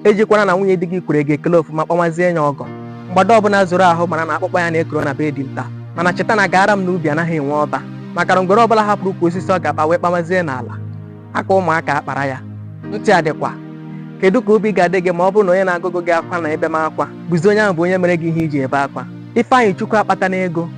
ejikwana na nwunye di gị kwere gị ekele ofuma kpọmazie ya ọgọ mgbada ọbụla zoro ahụ mara na akpụkpọ ya na-ekoro na be dinta mana cheta na gaara m n'ubi anaghị enwe ọba maka na ngwere ọbụla hapụrụ ukwu osisi ọ ga-akpa wee kpamazie n'ala aka ụmụaka akpara ya ntị adịkwa kedu ka obi ga-adị gị ma ọ bụrụ na onye na-agụgụ gị akwa na ebe m akwa bụzi onye ahụ bụ onye mere gị ihe i ji ebe akwa Ifeanyịchukwu akpata na ego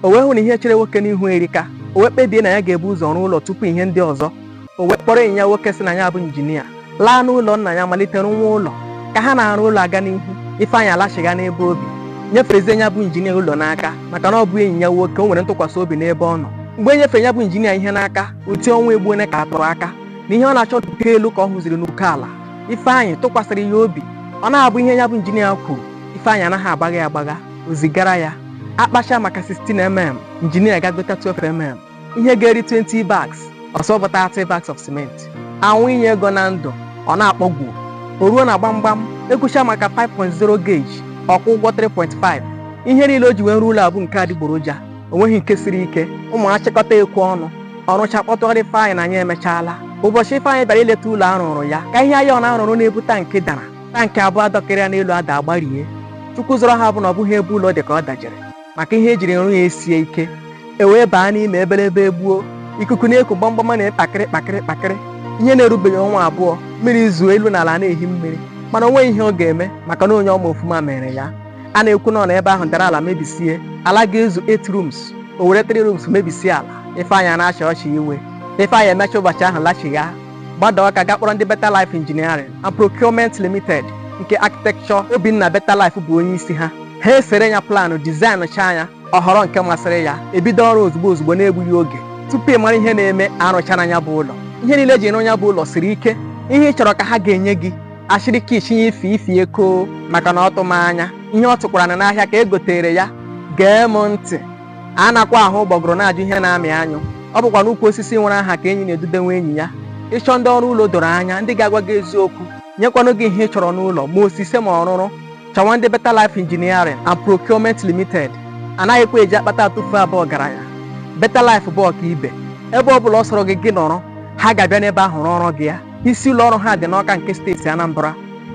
o wee hụ na ihe chere nwoke n'ihu erika o wee kpebie na ya ga-ebu ụzọ rụọ ụlọ tupu ihe ndị ọzọ o wee kpọrọ enyi ya nwoke sị na ya bụ injinia laa n'ụlọ nna ya malite rụwa ụlọ ka ha na-arụ ụlọ aga n'ihu ifeanyị alachigha n'ebe o bi nyefezie ya bụ injinia ụlọ n'aka maka na ọ bụ enyi ya nwoke o nwere ntụkwasị obi n'ebe ọ nọ mgbe e nyefere ya bụ injinia ihe n'aka uti ọnwa egbu onye ka atụrụ aka na ihe ọ na-achọ n'uko elu ka ọ hụziri n'uko ala ifeanyị tụkwasịrị ya obi ọ na-abụ ihe ya bụ injinia kwuru ifeanyị anaghị agbagha ya agbagha o zigara ya a kpachaa maka 16 mm injinia aga gota 12 mm ihe ga-eri 20 bags ọ sị ọ bụ 30 bags of cement a wụnye ego na ndụ ọ na-akpọgbu o ruo na gbamgbam e kwuchaa maka 5.0 gauge ọ kwụọ ụgwọ 3.5 ihe niile o ji wee rụọ ụlọ a bụ nke adịgboroja o nweghị nke siri ike ụmụ achịkọta ekwe ọnụ ọ rụcha kpọtụrụ Ifeanyị na anyị emechaala ụbọchị Ifeanyị bịara ileta ụlọ a rụrụ ya ka ihe iron a rụrụ na-ebu tankị dara tankị abụọ a dọkịrị ya n'elu adaa gbarie Chukwu zọrọ ha bụ na ọ bụghị ebe ụlọ dị ka ọ dajere maka ihe e jiri rụ ya esie ike e wee baa n'ime ebelebe egbuo ikuku na-eku gbamgbam a na kpakịrị kpakịrị kpakịrị ihe na-erubeghị ọnwa abụọ mmiri zoo elu na ala na-ehi mmiri mana o nweghị ihe ọ ga-eme maka na onye ọ ma ofuma mere ya a na-ekwu na ọ na ebe ahụ dara ala mebisie ala ga-ezu 8 rooms o were 3 rooms mebisie ala ifeanyị a na-achị ọchị iwe ifeanyị emecha ụbọchị ahụ lachigha gbada Ọka ga kpọrọ ndị Better Life Engineering and Procurement Limited nke Architect Obinna Better Life bụ onye isi ha ha esere ya planụ dizaịnụchaa ya ọ họrọ nke masịrị ya ebido ọrụ ozugbo ozugbo na-egbughị oge tupu ị mara ihe na-eme a rụchana ya bụ ụlọ ihe niile e ji rụ ya bụ ụlọ siri ike ihe ị chọrọ ka ha ga-enye gị achịrị ka isinye ife ifi eko maka na ọ tụ m anya ihe ọ tụkwara na n'ahịa ka e gotere ya gee m ntị anakwa ahụ ụgbọgụrụ na-ajụ ihe na-amị anyụ ọ bụkwa n'ukwu osisi nwere aha ka enyi na-edudewe enyi ya ị chọọ ndị ọrụ ụlọ doro anya ndị ga-agwa gị eziokwu nyekwanụ gị ihe ị chọrọ n'ụlọ ma osise ma ọrụrụ chọwa ndị Better Life Engineering and Procurement Limited anaghịkwa eji akpata atụfu abụ ọgaranya Better Life bụ ọkaibe ebe ọ bụla ọ sọrọ gị gị nọrọ ha ga-abịa n'ebe ahụ rụọrọ gị ya isi ụlọ ọrụ ha dị n'Ọka nke steeti Anambra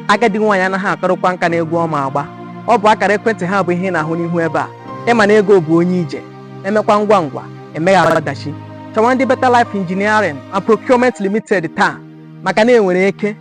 agadi nwaanyị anaghị akarịkwa nka na egwu ọ ma agba ọ bụ akara ekwentị ha bụ ihe ị na-ahụ n'ihu ebe a ị ma na ego bụ onye ije emekwa ngwa ngwa emeghara ọdachi chọwa ndị Better Life Engineering and Procurement Limited taa maka na enwere eke